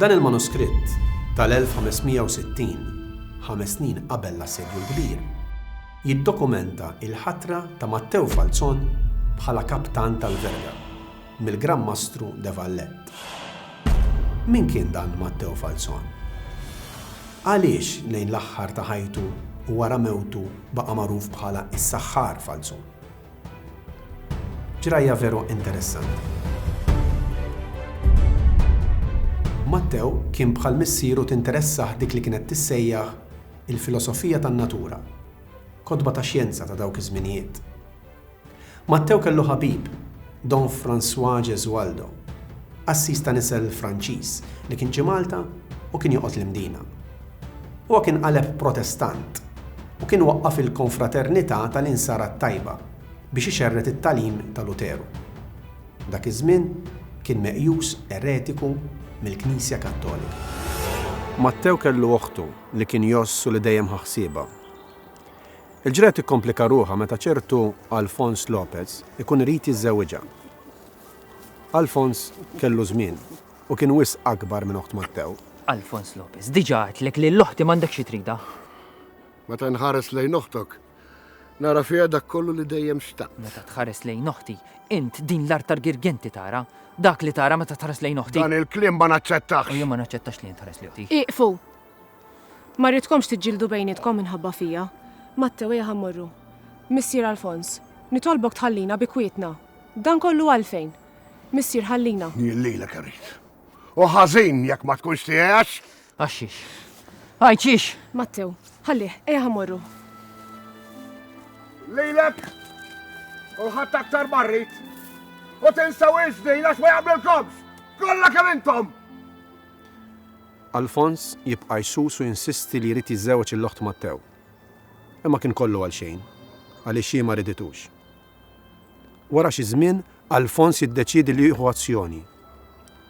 Dan il-manuskritt tal-1560, ħames snin qabel l-Assedju l-Kbir, jiddokumenta l-ħatra ta' Matteo Falzon bħala kaptan tal-verga. mill-Gran Mastru de Valette. Min kien dan Matteo Falzon? Għaliex lejn l-aħħar ta' ħajtu u wara mewtu baqa' magħruf bħala s-Saħħar Falzon? Ġrajja veru interessanti. Matteo kien bħal missieru tinteressah dik li kienet tissejjaħ il-filosofija tan-natura, kotba ta' xjenza ta' dawk iż-żminijiet. Mattew kellu ħabib, Don François Gesualdo, qassis ta' nisel Franċiż li kien ġie Malta u kien joqgħod l-Imdina. Huwa kien qaleb Protestant u kien waqqaf il-Konfraternità tal-Insara t-Tajba biex ixerred it-tagħlim ta' Luteru. Dak iż-żmien kien meqjus eretiku mill-Knisja Kattolika. Mattew kellu oħtu li kien jgħożż u li dejjem ħa ħsiebha. Il-ġrajja tikkomplika ruħha meta ċertu Alfons Lopez ikun irid jiżżewwiġha. Alfons kellu żmien u kien wisq akbar minn oħt Mattew. Alfons Lopez, diġà għedtlek li l-oħti m'għandek xi tridha. Meta nħares lejn oħtok, nara fiha dak kollu li dejjem xtaqt. Meta tħares lejn oħti, int din l-art tal-girgenti tara, dak li tara meta tħares lejn oħti. Dan il-kliem ma naċċettax. U jien ma naċċettax li int tħares li oħti. Ieqfu! Ma rridkomx tiġġieldu bejnietkom minħabba fija. Mattew, ejja ħa mmorru. Missier Alfons, nitolbok tħallina bi kwietna. Dan kollu għalfejn? Missier, ħallina. Jien lilek irrid. U ħażin jekk ma tkunx tiegħi għax. Għax xiex? Għajt xiex? Mattew, ħallih, ejja ħa mmorru. Lilek! U ħadd aktar marrit! U tinsaw iż-żdin għax ma jagħmlilkomx! Kollha kemm intom! Alfons jibqa' jsus u jinsisti li jrid jiżżewweġ lill-oħt Matteo. Imma kien kollu għal xejn, għaliex hi ma riditux. Wara xi żmien, Alfons jiddeċiedi li jieħu azzjoni.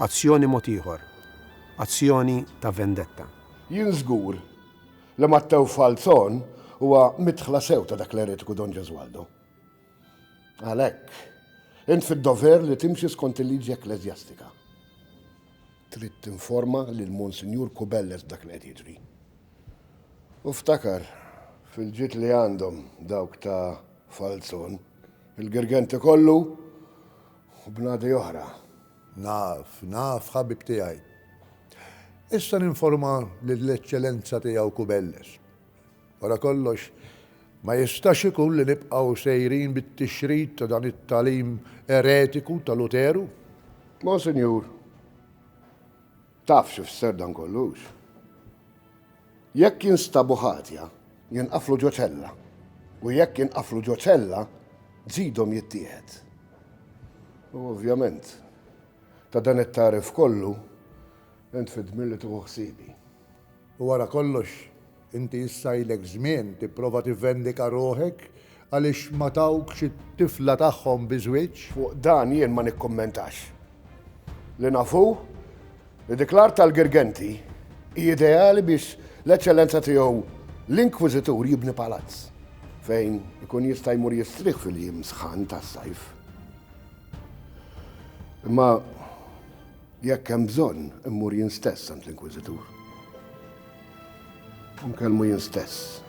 Azzjoni mod ieħor. Azzjoni ta' vendetta. Jien żgur li Matteo Falzon huwa midħla sew ta' dak l-eretiku Don Gesualdo. Għalhekk, int fid-dover li timxi skont il-liġi ekkleżjastika. Trid tinforma lil Monsinjur Kubelles b'dak li qed jiġri. U ftakar, fil-ġid li għandhom dawk ta' Falzon, il-Girgenti kollu u bnadi oħra. Naf, naf, ħabib tiegħi. Issa ninforma lill-Eċċellenza Tiegħu Kubelles. Wara kollox, ma jistax ikun li nibqgħu sejrin bit-tixrid ta' dan it-tagħlim eretiku ta' Luteru. Monsinjur, taf xi fisser dan kollu, hux? Jekk jinstabu ħatja, jinqaflu ġo ċella, u jekk jinqaflu ġo ċella, ġidhom jittieħed. U ovvjament, ta' dan it-tagħrif kollu, int fid-dmir li tieħu ħsiebi. U wara kollox, inti issa ilek żmien tipprova tivvendika ruħek għaliex ma tawkx it-tifla tagħhom bi żwieġ. Fuq dan jien ma nikkummentax. Li naf hu li dik l-art tal-Girgenti hi ideali biex l-Eċċellenza Tiegħu l-Inkwiżitur jibni palazz fejn ikun jista' jmur jistrieħ fil-jiem sħan tas-sajf. Imma. Jekk hemm bżonn, immur jien stess għand l-Inkwiżitur u nkellmu jien stess.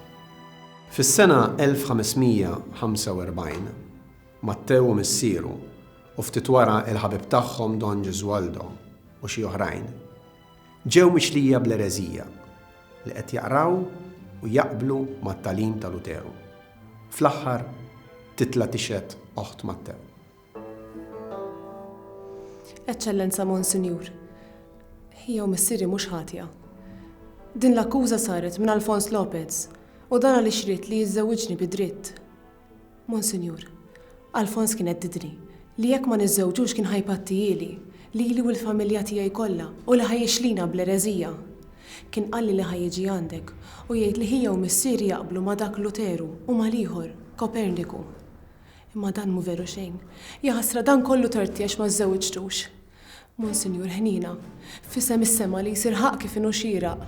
Fis-sena 1545, Mattew u missieru, u ftit wara l-ħabib tagħhom Don Gesualdo u xi oħrajn, ġew mixlija bl-ereżija li qed jaqraw u jaqblu mat-tagħlim ta' Luteru. Fl-aħħar titla' tixhed oħt Mattew. Eċċellenza Monsinjur, ħija u missieri mhux ħatja. Din l-akkuża saret minn Alfons Lopez u dan għaliex ried li jiżżewwiġni bi dritt. Monsinjur, Alfons kien heddidni li jekk ma niżżewġux kien ħa jpattihieli, lili u l-familja tiegħi kollha u li ħa jixlina bl-ereżija. Kien qalli li ħa jiġi għandek u jgħid li ħija u missieri jaqblu ma' dak Luteru u mal-ieħor, Koperniku. Imma dan mhu veru xejn. Jaħasra dan kollu torti għax ma żżewġtux. Monsinjur Ħniena, f'isem is-sema li jsir ħaqq kif inhu xieraq.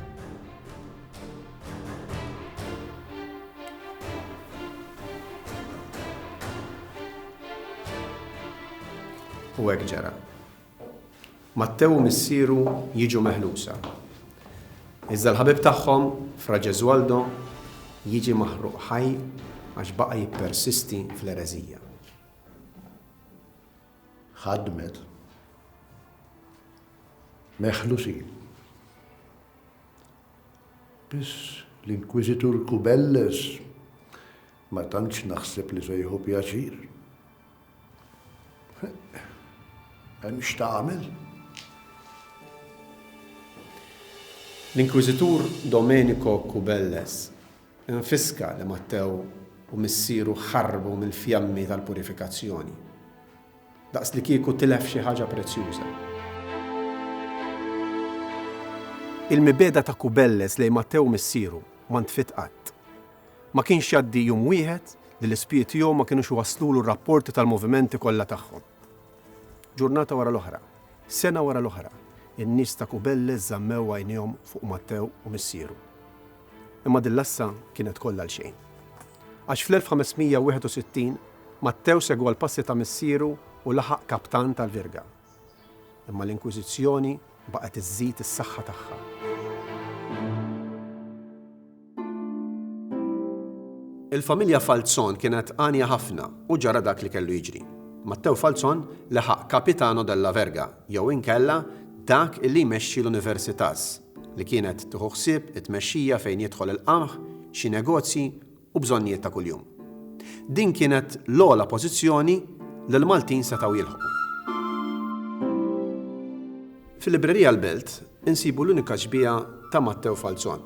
U hekk ġara. Mattew u missieru jiġu meħlusa, iżda l-ħabib tagħhom, Fra Gesualdo, jiġi maħruq ħaj għax baqa' jippersisti fl-ereżija. Ħadmet. Meħlusin. Biss l-Inkwiżitur Kubelles ma tantx naħseb li se jieħu pjaċir. Hemm x'tagħmel? L-Inkwiżitur Domenico Kubelles infiska li Matteo u missieru ħarbu mill-fjammi tal-purifikazzjoni, daqslikieku tilef xi ħaġa prezzjuża. Il-mibegħda ta' Kubelles lejn Matteo missieru ma ntfiet qatt. Ma kienx jgħaddi jum wieħed li l-ispiji tiegħu ma kinux iwasslulu r-rapporti tal-movimenti kollha tagħhom. Ġurnata wara l-oħra, sena wara l-oħra, in-nies ta' Kubelles żammew għajnejhom fuq Matteo u missieru. Imma din l-għassa kienet kollha għal xejn. Għax fl-1561, Matteo segwa l-passi ta' missieru u laħaq kaptan tal-virga. Imma l-Inkwiżizzjoni baqgħet iżżid is-saħħa tagħha. Il-familja Falzon kienet għanja ħafna u ġara dak li kellu jiġri. Matteo Falzon leħaq Capitano della Verga, jew inkella dak li jmexxi l-Universitas, li kienet tieħu ħsieb it-tmexxija fejn jidħol il-qamħ, xi negozji, u bżonnijiet ta' kuljum. Din kienet l-ogħla pożizzjoni li l-Maltin setgħu jilħqu. Fil-Librerija l-Belt insibu l-unika xbieha ta' Mattew Falzon.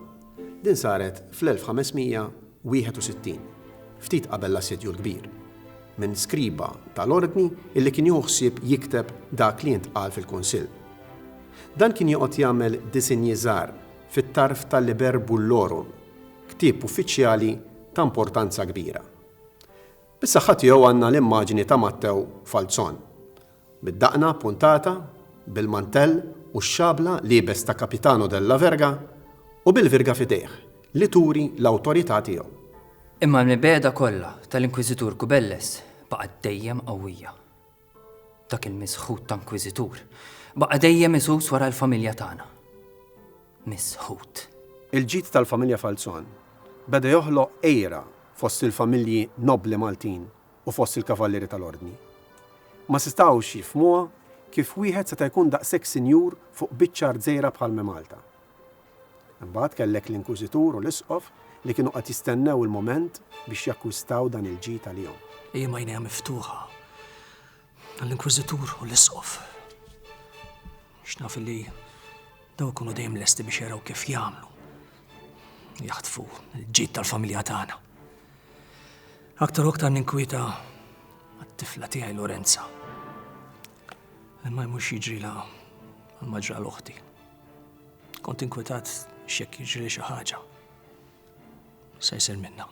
Din saret fl-1561, ftit qabel l-Assedju l-Kbir, minn skriba tal-Ordni illi kien jieħu ħsieb jikteb dak li jintqal fil-Kunsill. Dan kien joqgħod jagħmel disinji żgħar fit-tarf tal-Liber Bullorum ktieb uffiċjali ta' importanza kbira. Bis-saħħa tiegħu għandna l-immaġni ta' Mattew Falzon, bid-daqna appuntata, bil-mantell u x-xabla liebes ta' Capitano della Verga u bil-virga f'idejh li turi l-awtorità tiegħu. Imma l-mibegħda kollha tal-Inkwiżitur Kubelles baqgħet dejjem qawwija. Dak il-misħut ta' inkwiżitur baqa' dejjem isus wara l-familja tagħna. Misħut. Il-ġid tal-familja Falzon beda joħloq għira fost il-familji nobbli Maltin u fost il-kavallieri tal-Ordni. Ma setgħux jifhmuha kif wieħed seta' jkun daqshekk sinjur fuq biċċa art żgħira bħal Malta. Imbagħad kellek l-inkwiżitur u l-isqof li kienu qed jistennew il-mument biex jakkwistaw dan il-ġid għalihom. Ejjem għajnejha miftuħa għall-inkwiżitur u l-isqof. X'naf li daw ikunu dejjem lesti biex jaraw kif jagħmlu. Jaħtfu l-ġid tal-familja tagħna. Aktar u aktar ninkwita għat-tifla tiegħi Lorenza. Imma mhux jiġri la għal-maġra l-oħti. Kont inkwetat x'jekk jiġri xi ħaġa. Se jsir minna.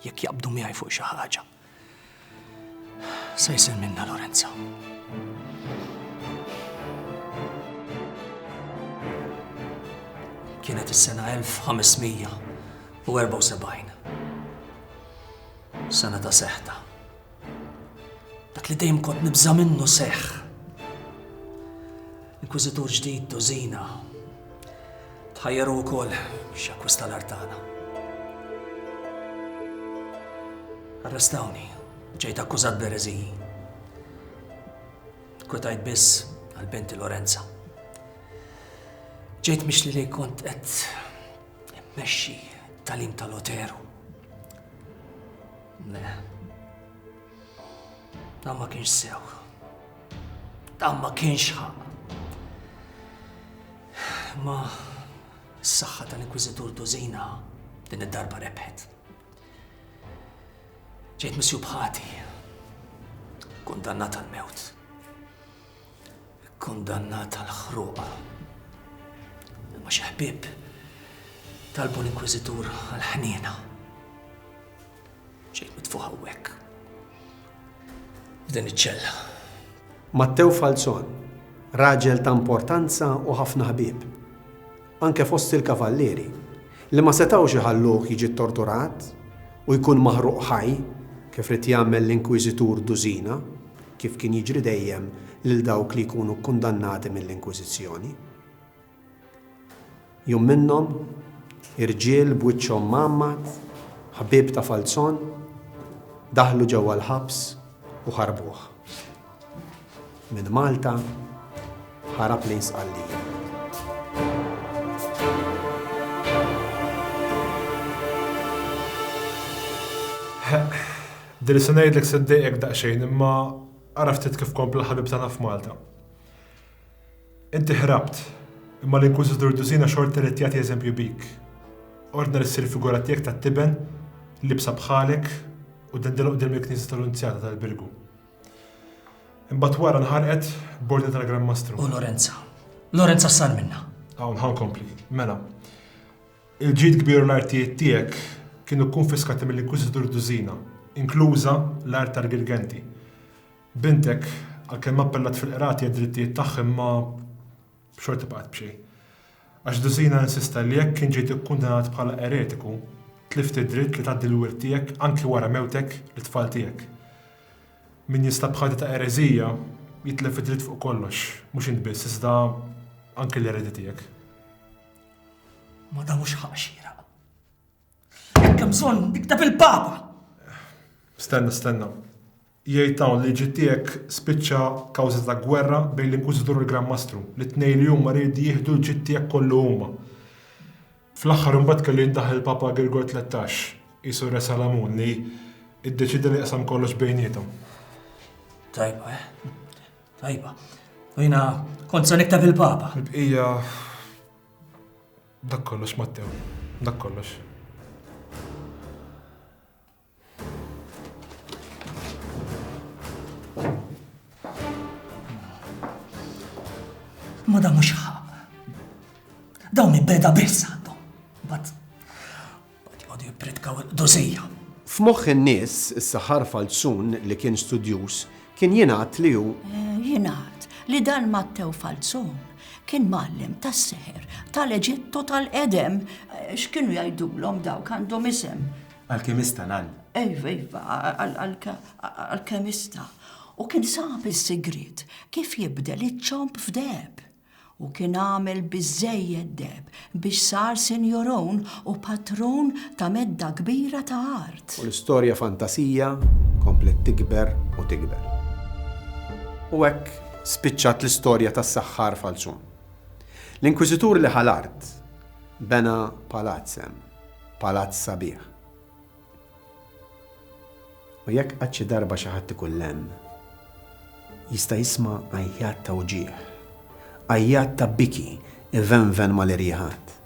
Jekk jaqbdu miegħi fuq xi ħaġa. Se jsir minna Lorenza. Kienet is-sena 1574. Sena ta' seħta. Dak li dejjem kont nibża' minnu seħħ. Inkwiżitur ġdid Dozina tħajjaru wkoll biex jakkwista l-art tagħna. Arrestawni, ġejt akkużat b'ereżiji. Kwetajt biss għal binti Lorenza. Ġejt mix li kont qed immexxi talim tal-Oteru. Le. Dan ma kienx sew. Dan ma kienx ħaq. Ma s-saħħa tal-Inkwiżitur Tużina din id-darba rebħet. Ġejt misju bħati. Kundannat għal-mewt. Kundannat għal-ħruqa. Ma xi ħbieb talbu l-Inkwiżitur għal-ħniena. Ġejt mitfuħ hawnhekk. F'din iċ-ċella. Mattew Falzon, raġel ta' importanza u ħafna ħbieb, anke fost il-kavallieri, li ma setgħux iħalluh jiġi ttorturat u jkun maħruq ħaj kif rid jagħmel l-Inkwiżitur Dużina, kif kien jiġri dejjem lil dawk li jkunu kkundannati mill-Inkwiżizzjoni. Jum minnhom, irġiel b'wiċċhom mgħammad, ħbieb ta' Falzon, daħlu ġewwa l-ħabs u ħarbuh. Minn Malta ħarab lejn Sqallija. Din li se ngħidlek se ddejqek daqsxejn imma ara ftit kif kompla ħabib tagħna f'Malta. Inti ħrabt, imma l-inkwiżitur Dusina xorta ried jagħti eżempju bik. Ordna li ssir figura tiegħek tat-tiben, libsa bħalek, u dendilha quddiem il-knisja tal-Unzjata tal-Birgu. Imbagħad wara nħarqet b'ordni tal-Gran Mastru. U Lorenza? Lorenza x'sar minnha? Hawn ħa nkompli. Mela, il-ġid kbir u l-artijiet tiegħek kienu kkunfiskati mill-inkwiżitur Dusina, inkluża l-art tal-Girgenti. Bintek, għalkemm appellat fil-Qrati għad-drittijiet tagħha imma xorta baqgħet b'xejn. Għax Dusina insista li jekk inġejt ikkundanat bħala eretiku, tlift id-dritt li tgħaddi l-wirt tiegħek anki wara mewtek lit-tfal tiegħek. Min jinstab b'ħati ta' ereżija, jitlef id-dritt fuq kollox, mhux int biss iżda anki l-eredi tiegħek. Ma dan mhux ħaqq xieraq. Jekk hemm bżonn, ikteb il-Papa! Stenna, stenna. Jgħid hawn li l-ġid tiegħek spiċċa kawża ta' gwerra bejn l-Inkwiżitur u l-Gran Mastru, li t-tnejn li huma ried jieħdu l-ġid tiegħek kollu huma. Fl-aħħar imbagħad kellu jindaħal il-Papa Girgor Tlettax, qisu Re Salamun, li iddeċieda li jaqsam kollox bejniethom. Tajba, eh? Tajba. U jiena kont se niktab il-Papa. Il-bqija dak kollox Mattew, dak kollox. Ma da mhux ħaq. Dawn ibeda biss għandhom. Bat, bat jgħodu jippritkaw il-dozija. F'moħħ in-nies, is-saħar falzun li kien studjus, kien jingħad li hu. Eh, jingħad li dan Mattew Falzun kien mallem tas-seħer tal-Eġittu tal-qedem eh, x'kienu jgħidulhom dawk għandhom isem Alkemista nal. Iva, iva, alkemista. U kien sab is-sigriet kif jibdel iċ-ċomb f'deb. U kien għamel biżejjed deb biex sar sinjorun u patrun ta' medda kbira ta' art. U l-istorja fantasija komplet tikber u tikber. U hekk spiċċat l-istorja tas-saħħar falzun. L-inkwiżitur li ħa l-art bena palazz hemm. Palazz sabiħ. U jekk għad xi darba xi ħadd ikun lemm, jista' jisma' għajjat ta' wġigħ, għajjat ta' biki ivenven mal-irjiħat.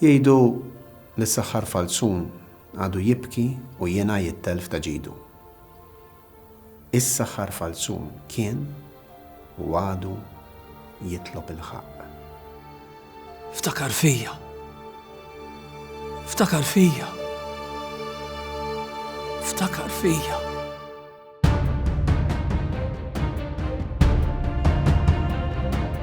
Jgħidu li s-saħħar falzun għadu jibki u jingħa jittelf ta' ġidu. Is-saħħar falzun kien, u għadu, jitlob il-ħaqq. Ftakar fija. Ftakar fija. Ftakar fija.